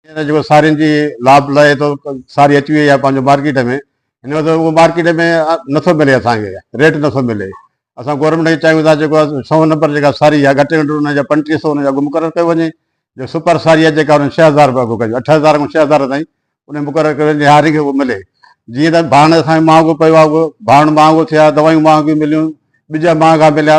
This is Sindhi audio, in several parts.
ڪير جيڪو سارين جي لاڀ لهي ٿو ساري اچي وئي آهي پنهنجو مارڪيٽ ۾ هن وقت اهو مارڪيٽ ۾ نٿو ملي اسان کي ريٽ نٿو ملي اسان گورنمينٽ کي چاهيون ٿا جيڪو سؤ نمبر جيڪا ساري آهي گهٽ ۾ گهٽ ان جا پنجٽيهه سؤ ان جو اگهه مقرر ڪيو وڃي جو سپر ساري آهي جيڪا ان ڇهه هزار روپيا اگهه ڪجي اٺ هزار کان ڇهه هزار تائين ان مقرر ڪيو وڃي هارين کي اهو ملي جيئن ته ڀاڻ اسان کي مهانگو پيو آهي اگهه ڀاڻ مهانگو ٿيا دوائيون مهانگيون مليون ٻج مهانگا مليا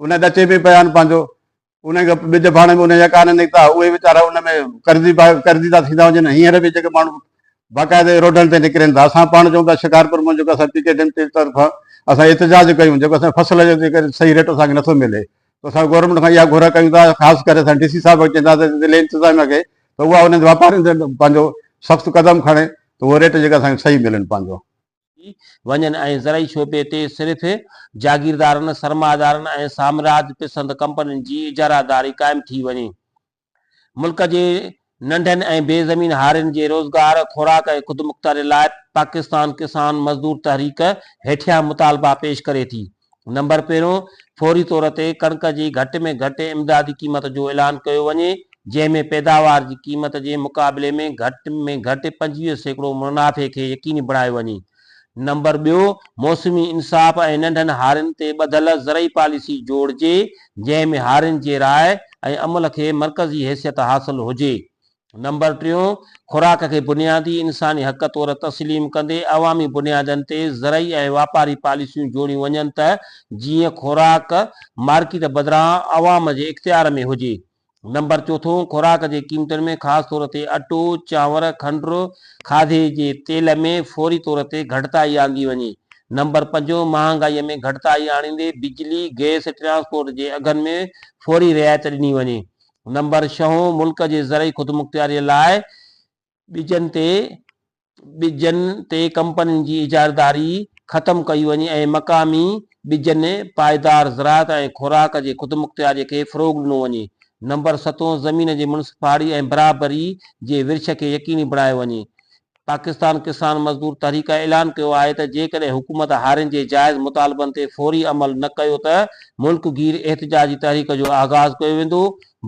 انهن ڏچي ۾ پيا آهن پنهنجو انهن کي ٻج ڦاڻي ۾ انهن جا ڪانه نڪتا اهي ويچارا ان ۾ قرضي قرضي ٿا ٿيندا وڃن هينئر به جيڪي ماڻهو باقاعده روڊن تي نڪرين ٿا اسان پاڻ چئون پيا شڪارپور مان جيڪو اسان پي ڪي ڊيم جي طرفان اسان احتجاج ڪيون جيڪو اسان فصل جو جيڪو صحيح ريٽ اسان کي نٿو ملي ته اسان گورنمينٽ کان اها گهر ڪيون ٿا خاص ڪري اسان ڊي سي صاحب کي چونداسين ضلعي انتظاميا کي ته اها انهن واپارين تي پنهنجو سخت قدم کڻي ته اهو ريٽ جيڪا اسان کي صحيح ملن پنهنجو وڃن ۽ زرعي شعبي تي صرف جاگيردارن، سرمائيدارن ۽ سامراج پسند ڪمپنين جي اجاره داري قائم ٿي وڃي. ملڪ جي ننڍن ۽ بي زمين هارين جي روزگار، خوراڪ ۽ خودمختياري لاء پاڪستان ڪسان مزدور تحريڪ هيٺيان مطالبا پيش ڪري ٿي. نمبر پهريون، فوري طور تي ڪڻڪ جي گهٽ ۾ گهٽ امدادي قيمت جو اعلان ڪيو وڃي، جنهن ۾ پيداوار جي قيمت جي مقابلي ۾ گهٽ ۾ گهٽ پنجويهه سيڪڙو منافعي کي يقيني بڻايو وڃي. نمبر ٻيو، موسمي انصاف ۽ ننڍن هارين تي ٻڌل زرعي پاليسي جوڙجي، جنهن ۾ هارين جي راء ۽ عمل کي مرڪزي حيثيت حاصل هجي. نمبر ٽيون، خوراڪ کي بنيادي انساني حق طور تسليم ڪندي عوامي بنيادن تي زرعي ۽ واپاري پاليسيون جوڙيون وڃن ته جيئن خوراڪ مارڪيٽ بدران عوام جي اختيار ۾ هجي. نمبر چوٿون، خوراڪ جي قيمتن ۾ خاص طور تي اٽو، چانور، کنڊ، کاڌي جي تيل ۾ فوري طور تي گهٽتائي آندي وڃي. نمبر پنجون، مهانگائي ۾ گهٽتائي آڻيندي بجلي، گئس، ٽرانسپورٽ جي اگهن ۾ فوري رعايت ڏني وڃي. نمبر ڇهون، ملڪ جي زرعي خودمختياريء لاء ٻجن تي ٻجن تي ڪمپنين جي اجاريداري ختم ڪئي وڃي ۽ مقامي ٻجن پائيدار زراعت ۽ خوراڪ جي خودمختياريء کي فروغ ڏنو وڃي. نمبر ستون، زمين جي منصفاڙي ۽ برابري جي ورڇ کي يقيني بڻايو وڃي. پاڪستان ڪسان مزدور تحريڪ اعلان ڪيو آهي ته جيڪڏهن حڪومت هارين جي جائز مطالبن تي فوري عمل نه ڪيو ته ملڪ گير احتجاجي تحريڪ جو آغاز ڪيو ويندو،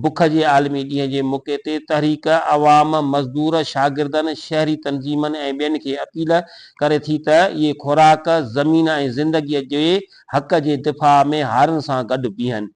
بک جي عالمي ڏينهن جي موقعي تي تحريڪ عوام مزدور، شاگردن، شهري تنظيمن ۽ ٻين کي اپيل ڪري ٿي ته اهي خوراڪ، زمين ۽ زندگي جي حق جي دفاع ۾ هارين سان گڏ بيهن.